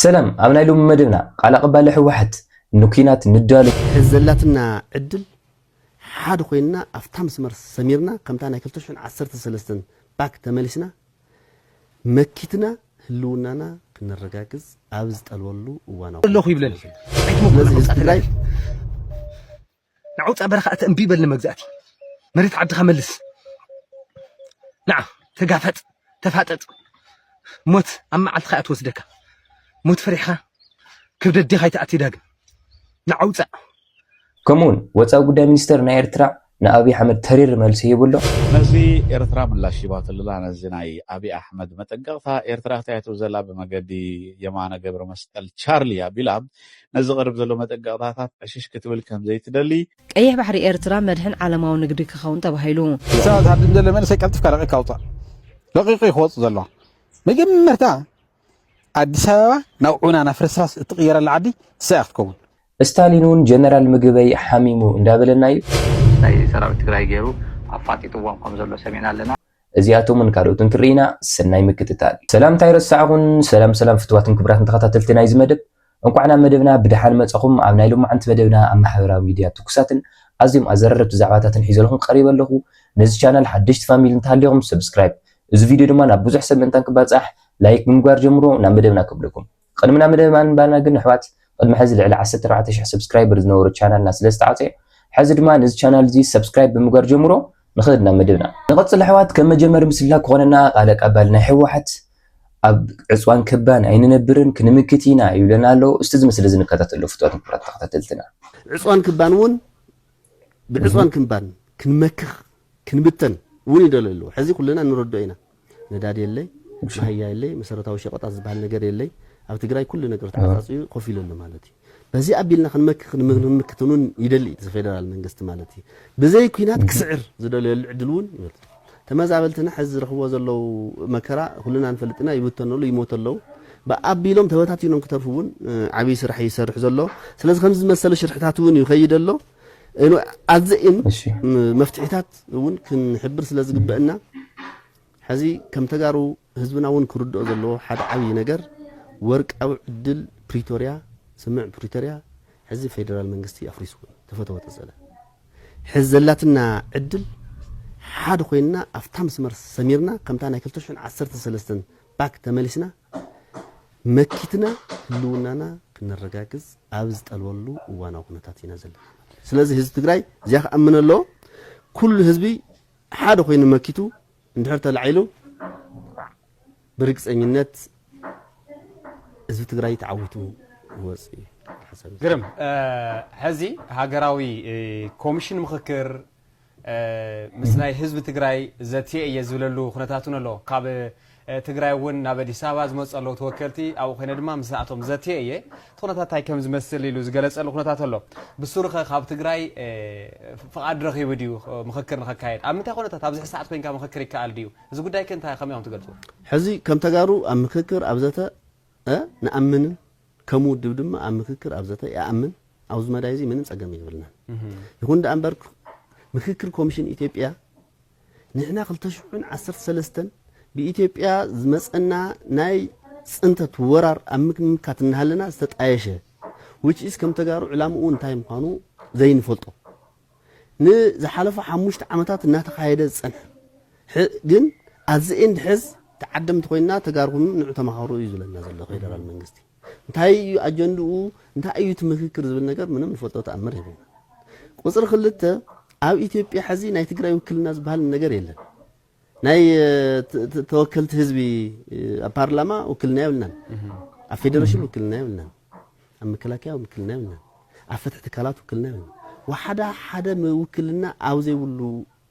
ሰላም ኣብ ናይ ሎሚ መደብና ቃል ኣቀባሊ ህወሓት ንኲናት ንዳሎ። ዘላትና ዕድል ሓድ ኮይንና ኣፍታ መስመር ሰሚርና ከምታ ናይ ክልተ ሽሕን ዓሰርተ ሰለስተን ባክ ተመሊስና መኪትና ህልውናና ክነረጋግፅ ኣብ ዝጠልበሉ እዋን ኣለኹ ይብለኒ ስለዚ ህዝቢ ትግራይ ናዓ ውፃእ በረኻ ኣተ እምቢ በል ንመግዛእቲ መሬት ዓድኻ መልስ ናዓ ተጋፈጥ ተፋጠጥ ሞት ኣብ መዓልትኻ እያ ትወስደካ ሞት ፈሪሕኻ ክብደት ዴኻ ይትኣቲ ዳግም ናዓ ውፃእ ከምኡውን ወፃኢ ጉዳይ ሚኒስተር ናይ ኤርትራ ንኣብይ ኣሕመድ ተሪር መልሲ ሂቡ ኣሎ ነዚ ኤርትራ ምላሽ ሂባትልላ ነዚ ናይ ኣብይ ኣሕመድ መጠንቀቕታ ኤርትራ ክታየቱ ዘላ ብመገዲ የማነ ገብረመስቀል ቻርሊ ኣቢላ ነዚ ዝቐርብ ዘሎ መጠንቀቕታታት ዕሽሽ ክትብል ከም ዘይትደሊ። ቀይሕ ባሕሪ ኤርትራ መድሕን ዓለማዊ ንግዲ ክኸውን ተባሂሉ። ክሳብ ዝሃድም ዘሎ መንእሰይ ቀልጢፍካ ለቒቕካ ኣውጽእ። ለቒቑ እዩ ክወጽእ ዘለዎ። መጀመርታ ኣዲስ ኣበባ ናብ ዑና ናብ ፍርስራስ እትቕየረላ ዓዲ ንሳ እያ ክትከውን። እስታሊን ውን ጀነራል ምግበይ ሓሚሙ እንዳበለና ዩ። ናይ ሰራዊት ትግራይ ገይሩ ኣፋጢጥዎም ከም ዘሎ ሰሚዕና ኣለና። እዚኣቶምን ካልኦትን ክርኢና ሰናይ ምክትታል። ሰላምታ ኣይረሳዕኹን ሰላም ሰላም ፍትዋትን ክብራትን ተኸታተልቲ ናይዚ መደብ እንቋዕ ናብ መደብና ብደሓን መጻኹም ኣብ ናይ ሎማዓንቲ መደብና ኣብ ማሕበራዊ ሚድያ ትኩሳትን ኣዝዮም ኣዘራረብቲ ዛዕባታትን ሒዘልኹም ቀሪበ ኣለኹ ነዚ ቻናል ሓደሽቲ ፋሚሊ እንተሃሊኹም ሰብስክራይብ እዚ ቪድዮ ድማ ናብ ብዙሕ ሰብ ምእንታን ክባጻሕ ላይክ ብምግባር ጀምርዎ ናብ መደብና ከብለኩም ቕድሚ ናብ መደብ ኣንባና ግን ኣሕዋት ቕድሚ ሐዚ ልዕሊ ዓሰርተ ኣርባዕተ ሽሕ ሰብስክራይበር ዝነበሮ ቻናልና ስለ ዝተዓፀዮ ሐዚ ድማ ነዚ ቻናል እዙይ ሰብስክራይብ ብምግባር ጀምሮ ንኽድ ናብ መደብና። ንቐፅል ኣሕዋት ከም መጀመሪ ምስላ ክኾነና ቓል ኣቃባሊ ናይ ህወሓት ኣብ ዕፅዋን ክባን ኣይንነብርን ክንምክት ኢና ይብለና ኣሎ እስቲ እዚ ምስሊ እዚ ንከታተሎ ፍትዋትን ክብራት ተኸታተልትና። ዕፅዋን ክባን እውን ብዕጽዋን ክንባን ክንመክኽ ክንብተን እውን ይደልዩ ኣለዉ። ሕዚ ኩልና ንረድኦ ኢና። ነዳዲ የለይ፣ መሃያ የለይ፣ መሰረታዊ ሸቐጣት ዝበሃል ነገር የለይ። ኣብ ትግራይ ኩሉ ነገር ተዓጻጽዩ ኮፍ ኢሉ ኣሎ ማለት እዩ። በዚ ኣቢልና ክንመክኽ ንምክትን እውን ይደሊ እቲ ፌደራል መንግስቲ ማለት እዩ። ብዘይ ኲናት ክስዕር ዝደለየሉ ዕድል እውን ይበልጽ። ተመዛበልትና ሐዚ ዝረኽብዎ ዘለዉ መከራ ኩልና ንፈልጥ ኢና፣ ይብተኑ ኣለዉ፣ ይሞቱ ኣለዉ፣ ኣቢሎም ተበታቲኖም ክተርፉ እውን ዓብዪ ስራሕ እዩ ዝሰርሕ ዘሎ፣ ስለዚ ከምዚ ዝመሰለ ሽርሕታት እውን እዩ ይኸይድ ዘሎ፣ ኣዘም መፍትሒታት እውን ክንሕብር ስለ ዝግበእና ሐዚ ከም ተጋሩ ህዝብና እውን ክርድኦ ዘለዎ ሓደ ዓብዪ ነገር ወርቃዊ ዕድል ፕሪቶሪያ ስምምዕ ፕሪቶሪያ ሐዚ ፌደራል መንግስቲ ኣፍሪስዎ እዩ፣ ተፈተወ ተሰለ። ሕዚ ዘላትና ዕድል ሓደ ኮይንና ኣብታ መስመር ሰሚርና ከምታ ናይ ክልተ ሽሕን ዓሰርተ ሰለስተን ባክ ተመሊስና መኪትና ህልውናና ክነረጋግፅ ኣብ ዝጠልበሉ እዋናዊ ኩነታት ኢና ዘለና ማለት እዩ። ስለዚ ህዝቢ ትግራይ እዚኣ ክኣምን ኣለዎ። ኩሉ ህዝቢ ሓደ ኮይኑ መኪቱ እንድሕር ተላዒሉ ብርግፀኝነት ህዝቢ ትግራይ ተዓዊቱ ክወፅእ እዩ ሓሳብ እዚ። ግርም ሐዚ ሃገራዊ ኮምሽን ምኽክር ምስ ናይ ህዝቢ ትግራይ ዘትየ እየ ዝብለሉ ኩነታት እውን ኣሎ ካብ ትግራይ እውን ናብ ኣዲስ ኣበባ ዝመፁ ኣለዉ ተወከልቲ ኣብኡ ኮይነ ድማ ምስኣቶም ዘትየ እየ እቲ ኩነታት ታይ ከም ዝመስል ኢሉ ዝገለፀሉ ኩነታት ኣሎ። ብሱሩ ከ ካብ ትግራይ ፍቓድ ረኺቡ ድዩ ምኽክር ንኸካየድ? ኣብ ምንታይ ኩነታት ኣብዚ ሕዚ ሰዓት ኮይንካ ምኽክር ይከኣል ድዩ? እዚ ጉዳይ ከ እንታይ ከመይ ኢኹም ትገልፅዎ? ሕዚ ከም ተጋሩ ኣብ ምኽክር ኣብ ዘተ ንኣምንን ከም ውድብ ድማ ኣብ ምኽክር ኣብ ዘተ ይኣምን። ኣብዚ መዳይ እዚ ምንም ፀገም የብልናን። ይኹን ድኣ እምበር ምኽክር ኮሚሽን ኢትዮጵያ ንሕና ክልተ ሽሕን ዓሰርተ ሰለስተን ብኢትዮጵያ ዝመጸና ናይ ጽንተት ወራር ኣብ ምምካት እናሃለና ዝተጣየሸ which is ከም ተጋሩ ዕላምኡ እንታይ ምዃኑ ዘይንፈልጦ ንዝሓለፉ ሓሙሽተ ዓመታት እናተኻየደ ዝጸንሐ ሕ- ግን ኣት ዘ ኤንድ ሕዝ ተዓደምቲ ኮይንና ተጋሩ ኩኑ ንዑ ተማሃሩ እዩ ዝብለና ዘሎ ፌደራል መንግስቲ። እንታይ እዩ ኣጀንድኡ፣ እንታይ እዩ እቲ ምክክር ዝብል ነገር ምንም ንፈልጦ ተኣምር የብልናን። ቁፅሪ ክልተ ኣብ ኢትዮጵያ ሕዚ ናይ ትግራይ ውክልና ዝበሃል ነገር የለን። ናይ ተወከልቲ ህዝቢ ኣብ ፓርላማ ውክልና የብልናን። ኣብ ፌዴሬሽን ውክልና የብልናን። ኣብ መከላከያ ውክልና የብልናን። ኣብ ፍትሒ ትካላት ውክልና የብልናን። ወሓዳ ሓደ ውክልና ኣብ ዘይብሉ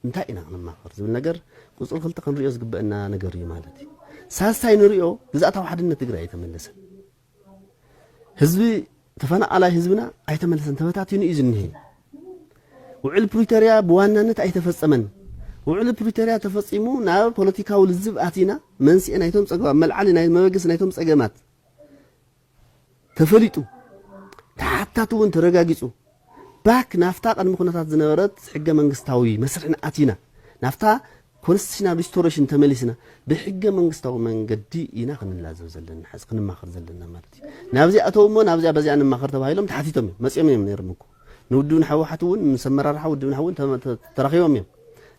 እንታይ ኢና ክንማኸር ዝብል ነገር ቁፅሪ ክልተ ክንሪኦ ዝግበእና ነገር እዩ ማለት እዩ። ሳልሳይ ንሪኦ ግዝኣታዊ ሓድነት ትግራይ ኣይተመለሰን። ህዝቢ ተፈናቃላይ ህዝብና ኣይተመለሰን፣ ተበታቲኑ እዩ ዝኒሀ። ውዕል ፕሪቶሪያ ብዋናነት ኣይተፈፀመን። ውዕል ፕሪቶሪያ ተፈፂሙ ናብ ፖለቲካዊ ልዝብ ኣቲና መንስኤ ናይቶም ፀገማት መልዓሊ ናይ መበገሲ ናይቶም ፀገማት ተፈሊጡ ተሓታቲ እውን ተረጋጊፁ ባክ ናፍታ ቅድሚ ኩነታት ዝነበረት ሕገ መንግስታዊ መስርሕና ኣቲና ናፍታ ኮንስቲቱሽናል ሪስቶሬሽን ተመሊስና ብሕገ መንግስታዊ መንገዲ ኢና ክንላዘብ ዘለና ሕዚ ክንማኸር ዘለና ማለት እዩ ናብዚኣ ኣተው እሞ ናብዚኣ በዚኣ ንማኸር ተባሂሎም ተሓቲቶም እዮም መፅኦም እዮም ነይሮም እኮ ንውድብን ሕወሓት እውን ምስ ኣመራርሓ ውድብን እውን ተራኺቦም እዮም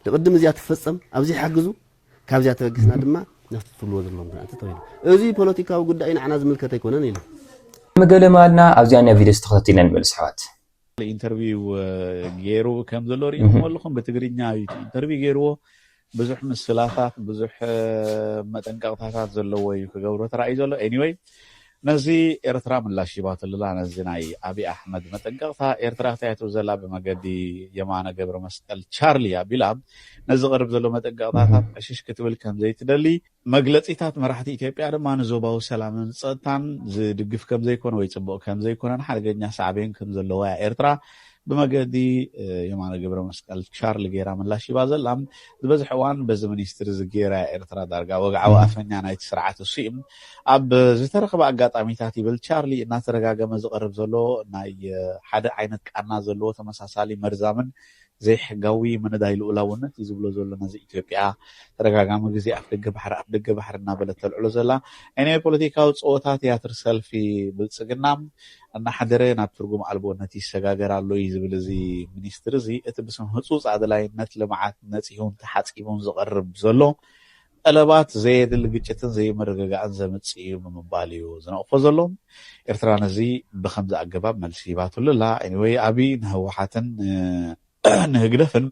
ንቅድም እዚኣ ትፈፀም ኣብዚ ሓግዙ ካብዚኣ ተበጊስና ድማ ናብቲ ትብልዎ ዘለኹም ክንኣቲ ተባሂሉ። እዚ ፖለቲካዊ ጉዳይ ንዓና ዝምልከት ኣይኮነን ኢሎም። መገለ ምኣልና ኣብዚኣ ኒያ ቪድዮ ተኸታቲልና ንመለስ ኣሕዋት። ኢንተርቪው ጌሩ ከም ዘሎ ሪኢኹሞ ኣለኹም ብትግርኛ እዩ እቲ ኢንተርቪው ጌርዎ ብዙሕ ምስላታት ብዙሕ መጠንቀቕታታት ዘለዎ እዩ ክገብሮ ተራእዩ ዘሎ ኤኒወይ ነዚ ኤርትራ ምላሽ ሂባትሉላ ነዚ ናይ ኣቢ ኣሕመድ መጠንቀቅታ ኤርትራ ክታየቱ ዘላ ብመገዲ የማነ ገብረመስቀል ቻርሊ ኣቢላ ንዝቀርብ ዘሎ መጠንቀቅታታት ዕሽሽ ክትብል ከምዘይትደሊ መግለጺታት መራሕቲ ኢትዮጵያ ድማ ንዞባዊ ሰላምን ጸጥታን ዝድግፍ ከምዘይኮነ ወይ ጽቡቅ ከምዘይኮነን ሓደገኛ ሳዕቤን ከምዘለዎያ ኤርትራ ብመገዲ የማነ ገብረመስቀል ቻርሊ ገይራ ምላሽ ሂባ ዘላ። ዝበዝሕ እዋን በዚ ሚኒስትሪ እዚ ገይራ እያ ኤርትራ ዳርጋ ወግዓዊ ኣፈኛ ናይቲ ስርዓት እሱ እዩ። ኣብ ዝተረኽበ ኣጋጣሚታት ይብል ቻርሊ እናተደጋገመ ዝቐርብ ዘሎ ናይ ሓደ ዓይነት ቃና ዘለዎ ተመሳሳሊ መርዛምን ዘይሕጋዊ ምንዳይ ልኡላውነት እዩ ዝብሎ ዘሎ ነዚ ኢትዮጵያ ተደጋጋሚ ግዜ ኣፍደገ ባሕሪ ኣፍደገ ባሕሪ እናበለት ተልዕሎ ዘላ ናይ ናይ ፖለቲካዊ ጸወታ ትያትር ሰልፊ ብልጽግና እናሓደረ ናብ ትርጉም ኣልቦነት ይሰጋገር ኣሎ እዩ ዝብል እዚ ሚኒስትሪ እዚ፣ እቲ ብስም ህፁፅ ኣድላይነት ልምዓት ነፂሁን ተሓፂቡን ዝቐርብ ዘሎ ጠለባት ዘየድሊ ግጭትን ዘይምርግጋእን ዘምፅእ እዩ ብምባል እዩ ዝነቕፎ ዘሎ። ኤርትራ ነዚ ብኸምዚ ኣገባብ መልሲ ሂባትሉ ኣላ። Anyway ኣብይ ንህወሓትን ንህግደፍን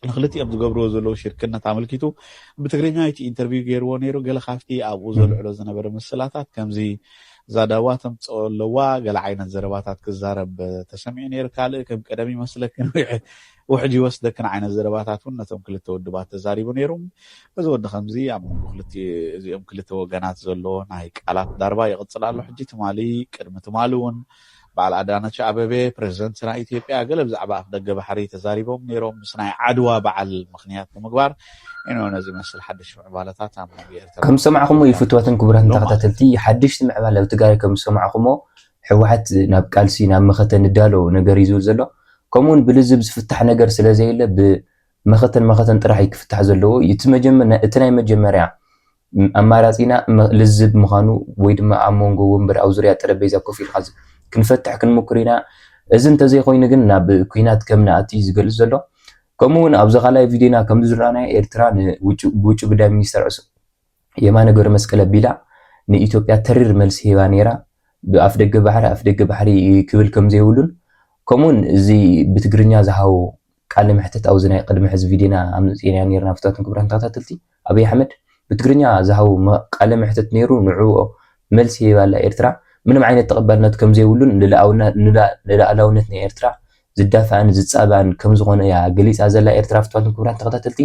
ንክልቲኦም ዝገብርዎ ዘለዉ ሽርክነት ኣመልኪቱ ብትግርኛ እቲ ኢንተርቪው ገይርዎ ነይሩ። ገለ ካብቲ ኣብኡ ዘልዕሎ ዝነበረ ምስላታት ከምዚ፣ ዛዳዋ ተምጽኦ ኣለዋ፣ ገለ ዓይነት ዘረባታት ክዛረብ ተሰሚዑ ነይሩ፣ ካልእ ከም ቀደም ይመስለክን ውሕጅ ይወስደክን ዓይነት ዘረባታት እውን ነቶም ክልተ ውድባት ተዛሪቡ ነይሩ። እዚ ወዲ ከምዚ ኣብ መንጎ ክልቲ እዚኦም ክልተ ወገናት ዘሎ ናይ ቃላት ዳርባ ይቕጽል ኣሎ። ሕጂ ትማሊ ቅድሚ ትማሊ እውን በዓል ኣዳነች ኣበቤ ፕረዚደንት ናይ ኢትዮጵያ ገለ ብዛዕባ ኣፍደገ ባሕሪ ተዛሪቦም ነይሮም ምስ ናይ ዓድዋ በዓል ምኽንያት ብምግባር ኢዩ ነዚ ዝመስል ሓድሽ ምዕባለታት ኣብ መንጎ ኤርትራን ከም ዝሰማዕኹሞ ኢዩ ፍትዋትን ክቡራትን ተኸታተልቲ ሓድሽቲ ምዕባለ ኣብ ትግራይ ከም ዝሰማዕኹሞ ሕወሓት ናብ ቃልሲ ናብ መኸተ ንዳሎ ነገር ኢዩ ዝብል ዘሎ ከምኡ ውን ብልዝብ ዝፍታሕ ነገር ስለ ዘየለ ብ መኸተን መኸተን ጥራሕ ኢዩ ክፍታሕ ዘለዎ እቲ መጀመ እቲ ናይ መጀመርያ ኣማራጺና ልዝብ ምዃኑ ወይ ድማ ኣብ መንጎ ወንበር ኣብ ዙርያ ጠረጴዛ ኮፍ ኢልካ ክንፈትሕ ክንምክር ኢና። እዚ እንተዘይኮይኑ ግን ናብ ኩናት ከም ንኣቱ እዩ ዝገልጽ ዘሎ። ከምኡ ውን ኣብዚ ካልኣይ ቪድዮና ከም ዝረኣናዮ ኤርትራ ን ብውጪ ጉዳይ ሚኒስተር ዕሱ የማነ ገብረመስቀል ኣቢላ ን ኢትዮጵያ ተሪር መልሲ ሂባ ነይራ ብ ኣፍደገ ባሕሪ ኣፍደገ ባሕሪ ክብል ከም ዘይብሉን ከምኡ ውን እዚ ብትግርኛ ዝሃቦ ቃለ መሕተት ኣብዚ ናይ ቅድሚ ሕዚ ቪድዮና ኣምጺእናዮ ነይርና ፍትዋትን ክብራትን ተኸታተልቲ ኣብይ ኣሕመድ ብትግርኛ ዝሃቦ ቃለ መሕትት ነይሩ ንዕኦ መልሲ ሂባላ ኤርትራ ምንም ዓይነት ተቀባልነት ከምዘይብሉን ንልኣላውነት ናይ ኤርትራ ዝዳፋእን ዝጻባእን ከምዝኮነ እያ ገሊጻ ዘላ ኤርትራ ፍትዋትን ክቡራትን ተከታተልቲ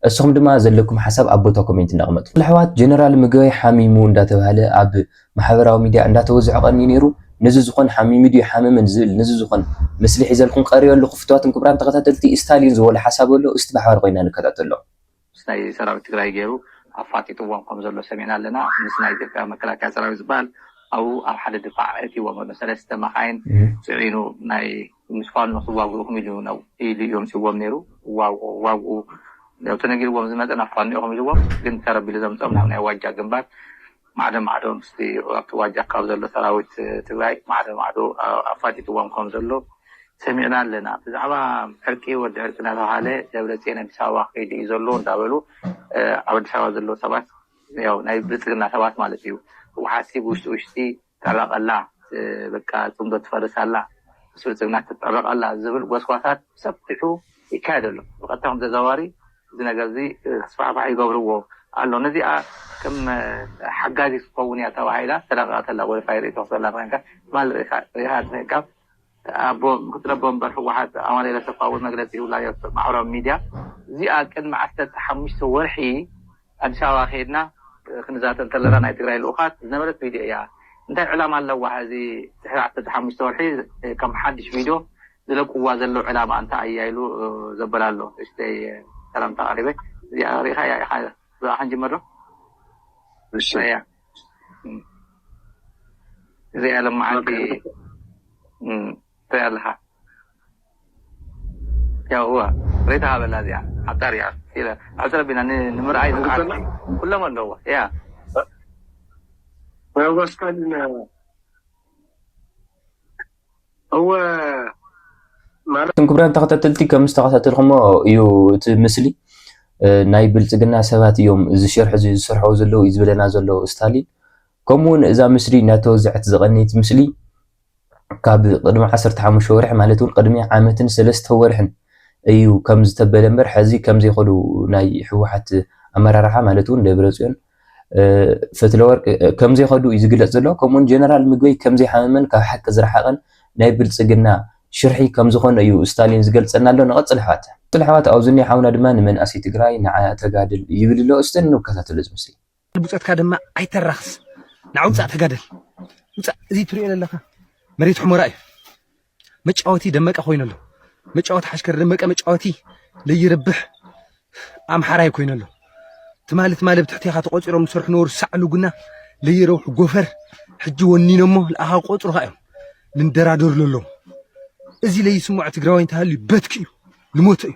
እሱኩም ድማ ዘለኩም ሓሳብ ኣብ ቦታ ኮሜንት እንዳቅመጥኩም ኣሕዋት ጀነራል ምግበይ ሓሚሙ እንዳተባህለ ኣብ ማሕበራዊ ሚድያ እንዳተወዝሖ ቀንዩ ነይሩ ነዚ ዝኮን ሓሚሙ ድዩ ኣይሓመመን ዝብል ነዚ ዝኮን ምስሊ ሒዘልኩም ቀሪበ ኣለኩ ፍትዋትን ክቡራን ተከታተልቲ እስታሊን ዝበሎ ሓሳብ ኣሎ እስቲ ብሓባር ኮይና ንከታተሎ። ምስ ናይ ሰራዊት ትግራይ ገይሩ ኣፋጢጥዎም ከም ዘሎ ሰሚዕና ኣለና ምስ ናይ ኢትዮጵያ መከላከያ ሰራዊት ዝባሃል ኣብኡ ኣብ ሓደ ድፋዕ ኣእትይዎም ኣሎ ሰለስተ መኻይን ፅዒኑ ናይ ምስ ፋኖ ክዋግኡኹም ኢሉ ኢሉ እዩ ኣምፂዎም ነይሩ ዋግኡ ተነጊርዎም ዝመፀ ናብ ፋኖ ኢኹም ኢልዎም ግን ተረቢሉ ዘምፀኦም ናብ ናይ ዋጃ ግንባር ማዕዶ ማዕዶ ምስቲ ኣብቲ ዋጃ ካብ ዘሎ ሰራዊት ትግራይ ማዕዶ ማዕዶ ኣፋጢጥዎም ከም ዘሎ ሰሚዕና ኣለና። ብዛዕባ ዕርቂ ወዲ ዕርቂ እናተብሃለ ደብረፅዮን ኣዲስ ኣበባ ከይዱ እዩ ዘሎ እንዳበሉ ኣብ ኣዲስ ኣበባ ዘለዉ ሰባት ያው ናይ ብልፅግና ሰባት ማለት እዩ ህወሓትሲ ብውሽጢ ውሽጢ ትዕረቕ ኣላ በቃ ፅምዶ ትፈርስ ኣላ ምስ ብልፅግና ትትዕረቕ ኣላ ዝብል ጎስጓሳት ብሰፊሑ ይካየድ ኣሎ። ብቐጥታ ይኹን ብተዘዋዋሪ እዚ ነገርዚ ክስፋሕፋሕ ይገብርዎ ኣሎ ነዚኣ ከም ሓጋዚት ክትከውን እያ ተባሂላ ተለቂቃ ተላ ወልፋይ ርእቶ ክሰላ ኮንካ ትማል ሪኢካ ትምህካ ኣቦ ምክትል ኣቦ ወንበር ህወሓት ኣማኒኤል ኣሰፋ እውን መግለፂ ይብላ እዮ ማሕበራዊ ሚድያ እዚኣ ቅድሚ ዓሰርተ ሓሙሽተ ወርሒ ኣዲስ ኣበባ ከይድና ክንዛተ እንተለና ናይ ትግራይ ልኡኻት ዝነበረት ቪድዮ እያ እንታይ ዕላማ ኣለዋ ሕዚ ድሕሪ ዓሰርተ ሓሙሽተ ወርሒ ከም ሓዱሽ ቪድዮ ዝለቅዋ ዘለው ዕላማ እንታይ ኣያ ኢሉ ዘበላ ኣሎ እሽተይ ሰላምታ ኣቅሪበ እዚኣ ሪኢካያ ኢካ ብኣ ክንጅምር ዶ እሺ ኣያ እዚኣ ለማዓንቲ ትሪኣ ኣለካ ያው እወ ሪኢታ ሃበላ እዚኣ ኣብታ ሪኣ ኢለ ኣብ ትረቢና ንምርኣይ ዝዓርኩ ኩሎም ኣለዎ እያ Vai, Vascaína. እወ ማለት ክቡራን ተኸታተልቲ ከም ዝተኸታተልኩሞ እዩ እቲ ምስሊ ናይ ብልፅግና ሰባት እዮም እዚ ሸርሒ እዚ ዝሰርሐው ዘለዉ እዩ ዝበለና ዘሎ ስታሊን ከምኡውን እዛ ምስሊ እናተወዘዐት ዝቐነየት ምስሊ ካብ ቅድሚ 15 ወርሒ ማለት እውን ቅድሚ ዓመትን ሰለስተ ወርሕን እዩ ከም ዝተበለ እምበር ሕዚ ከም ዘይኸዱ ናይ ህወሓት ኣመራርሓ ማለት እውን ደብረፅዮን ፈትለወርቅ ከምዘይኸዱ እዩ ዝግለፅ ዘሎ። ከምኡውን ጀነራል ምግበይ ከምዘይሓመመን ካብ ሓቂ ዝረሓቐን ናይ ብልፅግና ሽርሒ ከምዝኾነ እዩ ስታሊን ዝገልፀና ኣሎ። ንቐፅል ኣሕዋት። ቅፅል ኣሕዋት ኣብኡ ዝኒሀ ሓውና ድማ ንመንእሰይ ትግራይ ንዓያ ተጋድል ይብል ኣሎ። እስቲ ንከታተሎ እዚ ምስሊ። ብፆትካ ድማ ኣይተራኽስ ንዓ ውፃእ ተጋደል ውፃእ እዚ ትሪኦ ዘለኻ መሬት ሑመራ እዩ መጫወቲ ደመቀ ኮይኑ ኣሎ መጫወቲ ሓሽከር ደመቀ መጫወቲ ለይርብሕ ኣምሓራይ ኮይኑ ኣሎ ትማሊ ትማሊ ኣብ ትሕቴኻ ተቖፂሮም ዝሰርሑ ነበሩ ሳዕ ልጉና ለይረብሑ ጎፈር ሕጂ ወኒኖሞ ንኣኻ ቆፅሩኻ እዮም ልንደራደርሉ ኣለዉ እዚ ለይስምዖ ትግራዋይ እንተሃልዩ በትኪ እዩ ልሞተ እዩ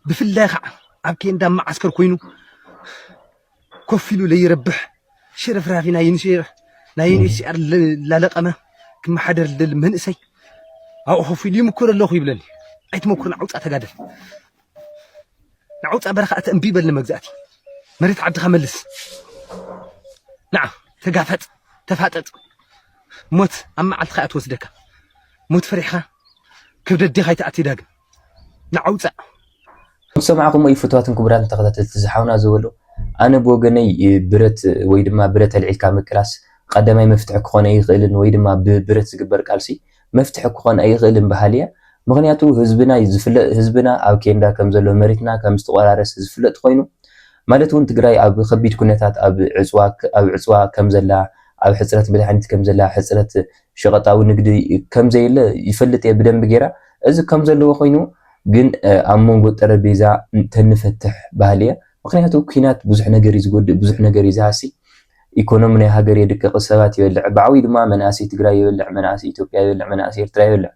ብፍላይ ከዓ ኣብ ኬንዳ መዓስከር ኮይኑ ኮፍ ኢሉ ለይረብሕ ሽርፍራፊ ናይ ዩኒሲኣር ላለቀመ ክመሓደር ዝደሊ መንእሰይ ኣብኡ ኮፍ ኢሉ ይምክር ኣለኹ ይብለኒ ኣይትመኩር ንዓውፃ ተጋደል ንዓውፃ በረኻ እቲ እምቢ በል ንመግዛእቲ መሬት ዓድኻ መልስ ንዓ ተጋፈጥ ተፋጠጥ ሞት ኣብ መዓልትኻ እያ ትወስደካ ሞት ፈሪሕኻ ክብደት ዴኻ ይትኣቲ ዳግም ንዓውፀእ። ከምዝሰማዕኹምዎ እዩ ፍትዋትን ክቡራትን ተኸታተልቲ እዚ ሓውና ዝበሎ ኣነ ብወገነይ ብረት ወይ ድማ ብረት ኣልዒልካ ምቅላስ ቐዳማይ መፍትሒ ክኾን ኣይኽእልን ወይ ድማ ብብረት ዝግበር ቃልሲ መፍትሒ ክኾን ኣይኽእልን በሃሊ እየ ምኽንያቱ ህዝብና ዝፍለጥ ህዝብና ኣብ ኬንዳ ከምዘሎ መሬትና ከምዝተቖራረሰ ዝፍለጥ ኾይኑ ማለት እውን ትግራይ ኣብ ኸቢድ ኩነታት ኣብ ዕፅዋ ኣብ ዕፅዋ ከምዘላ ኣብ ሕፅረት መድሓኒት ከምዘላ ሕፅረት ሸቀጣዊ ንግዲ ከምዘየለ ይፈልጥ እየ ብደንቢ ጌራ እዚ ከምዘለዎ ኮይኑ ግን ኣብ መንጎ ጠረቤዛ ተንፈትሕ በሃሊ እየ ምክንያቱ ኩናት ብዙሕ ነገር እዩ ዝጎድእ ብዙሕ ነገር እዩ ዝሃሲ ኢኮኖሚ ናይ ሃገር የድቅቅ ሰባት ይበልዕ ብዓብዩ ድማ መናእሰይ ትግራይ ይበልዕ መናእሰይ ኢትዮጵያ ይበልዕ መናእሰይ ኤርትራ ይበልዕ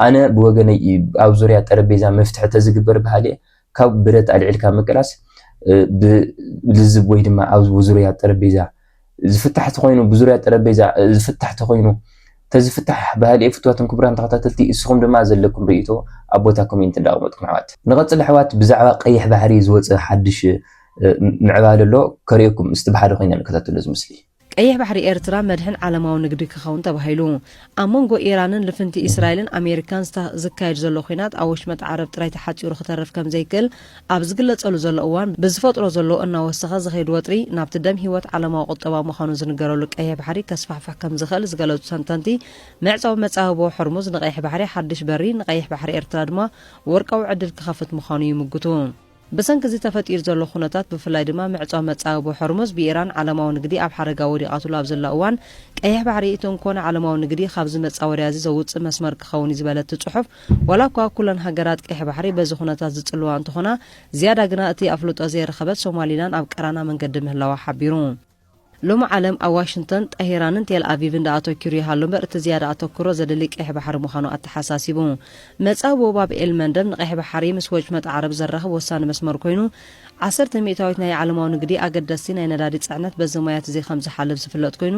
ኣነ ብወገነይ ኣብ ዙርያ ጠረቤዛ መፍትሒ ተዝግበር በሃሊ እየ ካብ ብረት ኣልዒልካ ምቅላስ ብልዝብ ወይ ድማ ኣብ ዙርያ ጠረጴዛ ዝፍታሕ ተኾይኑ ብዙርያ ጠረጴዛ ዝፍታሕ ተኾይኑ ተዝፍታሕ ባህሊ ፍትዋትን ክቡራን ተኸታተልቲ እስኹም ድማ ዘለኩም ርእይቶ ኣብ ቦታ ኮሜንት እንዳቕመጥኩም ኣሕዋት ንቐጽል ኣሕዋት ብዛዕባ ቀይሕ ባሕሪ ዝወጸ ሓድሽ ምዕባለ ኣሎ ከርእየኩም እስቲ ብሓደ ኮይና ንከታተሎ እዚ ምስሊ። ቀይሕ ባሕሪ ኤርትራ መድሕን ዓለማዊ ንግዲ ክኸውን ተባሂሉ ኣብ መንጎ ኢራንን ልፍንቲ ኢስራኤልን ኣሜሪካን ዝካየድ ዘሎ ኲናት ኣብ ወሽመጥ ዓረብ ጥራይ ተሓጺሩ ክተርፍ ከምዘይክእል ኣብ ዝግለጸሉ ዘሎ እዋን ብዝፈጥሮ ዘሎ እናወሰኸ ዝኸይድ ወጥሪ ናብቲ ደም ህይወት ዓለማዊ ቁጠባ ምዃኑ ዝንገረሉ ቀይሕ ባሕሪ ከስፋሕፍሕ ከምዝኽእል ዝገለጹ ተንተንቲ መዕጸዊ መጻብቦ ሆርሙዝ ንቀይሕ ባሕሪ ሓድሽ በሪ ንቀይሕ ባሕሪ ኤርትራ ድማ ወርቃዊ ዕድል ክኸፍት ምዃኑ ይምጉቱ። ብሰንኪ እዚ ተፈጢሩ ዘሎ ኩነታት ብፍላይ ድማ ምዕጻው መጻብቦ ሖርሙዝ ብኢራን ዓለማዊ ንግዲ ኣብ ሓደጋ ወዲቓትሉ ኣብ ዘላ እዋን ቀይሕ ባሕሪ እቲ እንኮ ንዓለማዊ ንግዲ ካብዚ መጻወድያ እዚ ዘውጽእ መስመር ክኸውን እዩ ዝበለት እቲ ጽሑፍ ዋላ እኳ ኩለን ሃገራት ቀይሕ ባሕሪ በዚ ኩነታት ዝጽልዋ እንተኾና ዝያዳ ግና እቲ ኣፍልጦ ዘይረኸበት ሶማሊላን ኣብ ቀራና መንገዲ ምህላዋ ሓቢሩ። ሎሚ ዓለም ኣብ ዋሽንግቶን፣ ጠሂራንን ቴል ኣቪቭን ደኣ ኣቶኪሩ ይሃሉ እምበር እቲ ዝያዳ ኣተኩሮ ዘድሊ ቀይሕ ባሕሪ ምዃኑ ኣተሓሳሲቡ። መጻብቦ ባብ ኤል መንደብ ንቀይሕ ባሕሪ ምስ ወጭመጥ ዓረብ ዘራኽብ ወሳኒ መስመር ኮይኑ፣ ዓሰርተ ሚእታዊት ናይ ዓለማዊ ንግዲ ኣገደስቲ ናይ ነዳዲ ጽዕነት በዚ ማያት'ዚ ከም ዝሓልፍ ዝፍለጥ ኮይኑ፣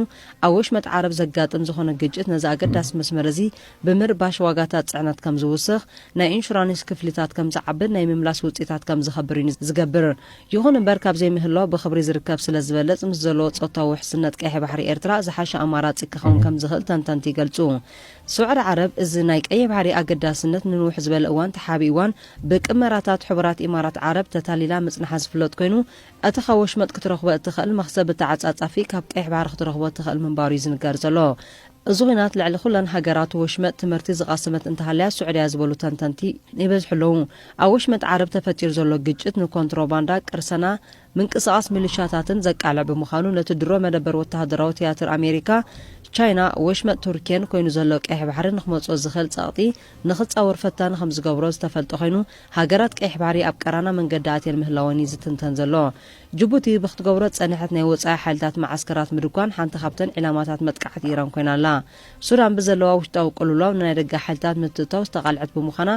ኣብ ወሽመጥ ዓረብ ዘጋጥም ዝኾነ ግጭት ነዚ ኣገዳሲ መስመር እዚ ብምርባሽ ዋጋታት ጽዕነት ከም ዝውስኽ፣ ናይ ኢንሹራኒስ ክፍሊታት ከም ዝዓብን ናይ ምምላስ ውጽኢታት ከም ዝኸብር እዩ ዝገብር። ይኹን እምበር ካብ ዘይምህላው ብኽብሪ ዝርከብ ስለ ዝበልጽ ምስ ዘለዎ ጾታዊ ውሕስነት ቀይሕ ባሕሪ ኤርትራ ዝሓሸ ኣማራጺ ክኸውን ከም ዝኽእል ተንተንቲ ይገልጹ። ስዑዲ ዓረብ እዚ ናይ ቀይሕ ባሕሪ ኣገዳስነት ንንውሕ ዝበለ እዋን ተሓቢእዋን ብቅመራታት ሕቡራት ኢማራት ዓረብ ተታሊላ ምጽንሓ ዝፍለጥ ኮይኑ እቲ ካብ ወሽመጥ ክትረኽቦ እትኽእል መኽሰብ ብተዓጻጻፊ ካብ ቀይሕ ባሕሪ ክትረኽቦ እትኽእል ምንባሩ'ዩ ዝንገር ዘሎ። እዚ ኹናት ልዕሊ ኹለን ሃገራት ወሽመጥ ትምህርቲ ዝቐስመት እንተሃልያ ሱዕድያ ዝበሉ ተንተንቲ ይበዝሑ ኣለዉ። ኣብ ወሽመጥ ዓረብ ተፈጢሩ ዘሎ ግጭት ንኮንትሮባንዳ፣ ቅርሰና፣ ምንቅስቓስ ሚልሻታትን ዘቃልዕ ብምዃኑ ነቲ ድሮ መደበር ወተሃደራዊ ትያትር ኣሜሪካ፣ ቻይና፣ ወሽመጥ ቱርኬን ኮይኑ ዘሎ ቀይሕ ባሕሪ ንክመጽኦ ዝኽእል ጸቕጢ ንክጻወር ፈታኒ ከምዝገብሮ ዝተፈልጠ ኮይኑ ሃገራት ቀይሕ ባሕሪ ኣብ ቀራና መንገዲ ኣትየን ምህላወን እዩ ዝትንተን ዘሎ። ጅቡቲ ብክትገብሮ ዝጸንሐት ናይ ወጻኢ ሓይልታት መዓስከራት ምድኳን ሓንቲ ካብተን ዒላማታት መጥቃዕቲ ኢራን ኮይና ኣላ። ሱዳን ብዘለዋ ውሽጣዊ ቅልውላው ንናይ ደገ ሓይልታት ምትእትታው ዝተቓልዐት ብምዃና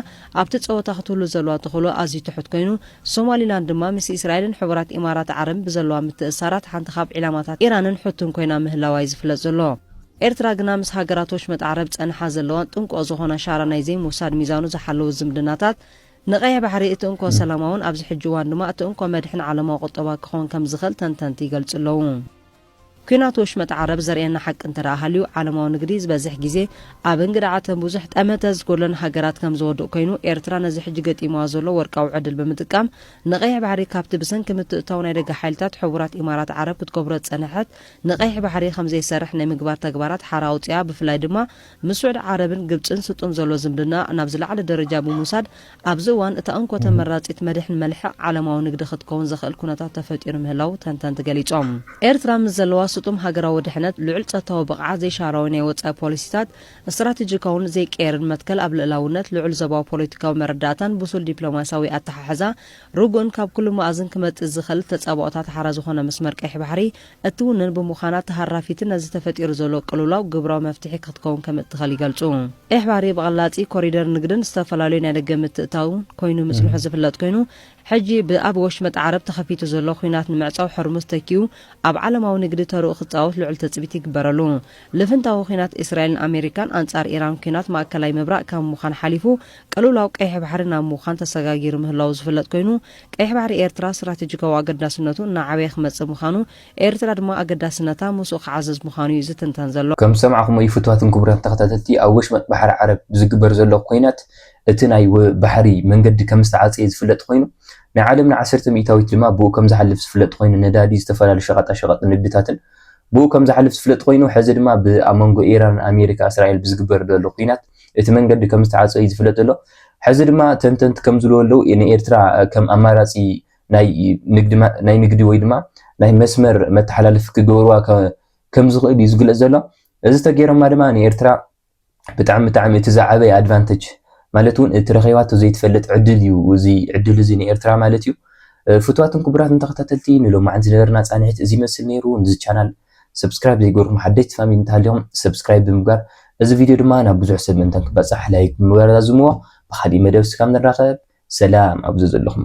ኣብቲ ጸወታ ክትህሉ ዘለዋ ተኽእሎ ኣዝዩ ትሑት ኮይኑ፣ ሶማሊላንድ ድማ ምስ እስራኤልን ሕቡራት ኢማራት ዓረብን ብዘለዋ ምትእስሳራት ሓንቲ ካብ ዒላማታት ኢራንን ሑትን ኮይና ምህላዋ'ዩ ዝፍለጥ ዘሎ። ኤርትራ ግና ምስ ሃገራት ወሽመጥ ዓረብ ጸንሓ ዘለዋን ጥንቁቕ ዝኾና ሻራ ናይ ዘይምውሳድ ሚዛኑ ዝሓለወ ዝምድናታት ንቀይሕ ባሕሪ እቲ እንኮ ሰላማውን ኣብዚ ሕጂ እዋን ድማ እቲ እንኮ መድሕን ዓለማዊ ቁጠባ ክኸውን ከም ዝኽእል ተንተንቲ ይገልጹ ኣለዉ። ኲናት ወሽመጥ ዓረብ ዘርእየና ሓቂ እንተ ሃልዩ፣ ዓለማዊ ንግዲ ዝበዝሕ ግዜ ኣብ እንግድዓ እተን ብዙሕ ጠመተ ዝጎድለን ሃገራት ከም ዝወድቕ ኮይኑ፣ ኤርትራ ነዚ ሕጂ ገጢምዋ ዘሎ ወርቃዊ ዕድል ብምጥቃም ንቀይሕ ባሕሪ ካብቲ ብሰንኪ ምትእትታው ናይ ደገ ሓይልታት ሕቡራት ኢማራት ዓረብ ክትገብሮ ዝጸንሐት ንቀይሕ ባሕሪ ከም ዘይሰርሕ ናይ ምግባር ተግባራት ሓራ ኣውጺኣ ብፍላይ ድማ ምስ ስዑዲ ዓረብን ግብጽን ስጡም ዘሎ ዝምድና ናብ ዝለዓለ ደረጃ ብምውሳድ፣ ኣብዚ እዋን እታ እንኮ ተመራጺት መድሕን መልሕቕ ዓለማዊ ንግዲ ክትከውን ዘኽእል ኩነታት ተፈጢሩ ምህላዉ ተንተንቲ ገሊጾም። ኤርትራ ምስ ዘለዋ ስጡም ሃገራዊ ድሕነት፣ ልዑል ጸጥታዊ ብቕዓት፣ ዘይሻራዊ ናይ ወጻኢ ፖሊሲታት፣ ስትራቴጂካውን ዘይቅየርን መትከል ኣብ ልእላውነት፣ ልዑል ዞባዊ ፖለቲካዊ መረዳእታን ብሱል ዲፕሎማስያዊ ኣተሓሕዛ፣ ርጉእን ካብ ኩሉ መኣዝን ክመጽእ ዝኽእል ተጻብኦታት ሓራ ዝኾነ መስመር ቀይሕ ባሕሪ፣ እትውንን ብምዃና ተሃራፊትን ነዚ ተፈጢሩ ዘሎ ቅልውላው ግብራዊ መፍትሒ ክትከውን ከምእትኸል ይገልጹ። ቀይሕ ባሕሪ ብቐላጺ ኮሪደር ንግድን ዝተፈላለዩ ናይ ደገ ምትእትታውን ኮይኑ ምጽንሑ ዝፍለጥ ኮይኑ፣ ሕጂ ብኣብ ወሽመጥ ዓረብ ተኸፊቱ ዘሎ ኹናት ንምዕጻው ሕርሙዝ ተኪኡ ኣብ ዓለማዊ ንግዲ ተርኡ ክጻወት ልዑል ትጽቢት ይግበረሉ። ልፍንታዊ ኹናት እስራኤልን ኣሜሪካን ኣንጻር ኢራን ኲናት ማእከላይ ምብራቅ ካብ ምዃን ሓሊፉ ቅልውላው ቀይሕ ባሕሪ ናብ ምዃን ተሰጋጊሩ ምህላዉ ዝፍለጥ ኮይኑ፣ ቀይሕ ባሕሪ ኤርትራ ስትራቴጂካዊ ኣገዳስነቱ እናዓበየ ክመጽእ ምዃኑ፣ ኤርትራ ድማ ኣገዳስነታ ምስኡ ክዓዝዝ ምዃኑ እዩ ዝትንተን ዘሎ። ከም ዝሰማዕኩሞ እዩ ፍቱዋትን ክቡራትን ተኸታተልቲ፣ ኣብ ወሽመጥ ባሕሪ ዓረብ ብዝግበር ዘሎ ኰናት እቲ ናይ ባሕሪ መንገዲ ከም ዝተዓጸየ ዝፍለጥ ኰይኑ፣ ናይ ዓለምና ዓሰርተ ሚእታዊት ድማ ብኡ ከም ዝሓልፍ ዝፍለጥ ኰይኑ ነዳዲ ዝተፈላለዩ ሸቐጣ ሸቐጥ ንግድታትን ብኡ ከም ዝሓልፍ ዝፍለጥ ኰይኑ ሕዚ ድማ ብ ኣብ መንጎ ኢራን ኣሜሪካ እስራኤል ብዝግበር ዘሎ ኲናት እቲ መንገዲ ከም ዝተዓጸወ እዩ ዝፍለጥ ዘሎ። ሕዚ ድማ ተንተንቲ ከም ዝብልዎ ኣለዉ ንኤርትራ ከም ኣማራጺ ናይ ንግዲ ወይ ድማ ናይ መስመር መተሓላለፊ ክገብርዋ ከም ዝኽእሉ እዩ ዝግለጽ ዘሎ። እዚ ተገይሮማ ድማ ንኤርትራ ብጣዕሚ ብጣዕሚ እቲ ዝዓበየ ኣድቫንተጅ ማለት እውን እቲ ረኺባቶ ዘይትፈልጥ ዕድል እዩ እዚ ዕድል እዚ ንኤርትራ ማለት እዩ። ፍትዋትን ክቡራትን ተኸታተልቲ ንሎማዓንቲ ዝነበረና ጻንሒት እዚ ይመስል ነይሩ። ንዚ ቻናል ሰብስክራይብ ዘይገርኩም ሓደሽቲ ፋሚሊ እንተሃሊኹም ሰብስክራይብ ብምግባር እዚ ቪድዮ ድማ ናብ ብዙሕ ሰብ ምእንታን ክበፃሕ ላይክ ብምግባር ዛዝምዎ ብኻሊእ መደብ ስካብ ንራኸብ ሰላም ኣብ ዘዘለኹሞ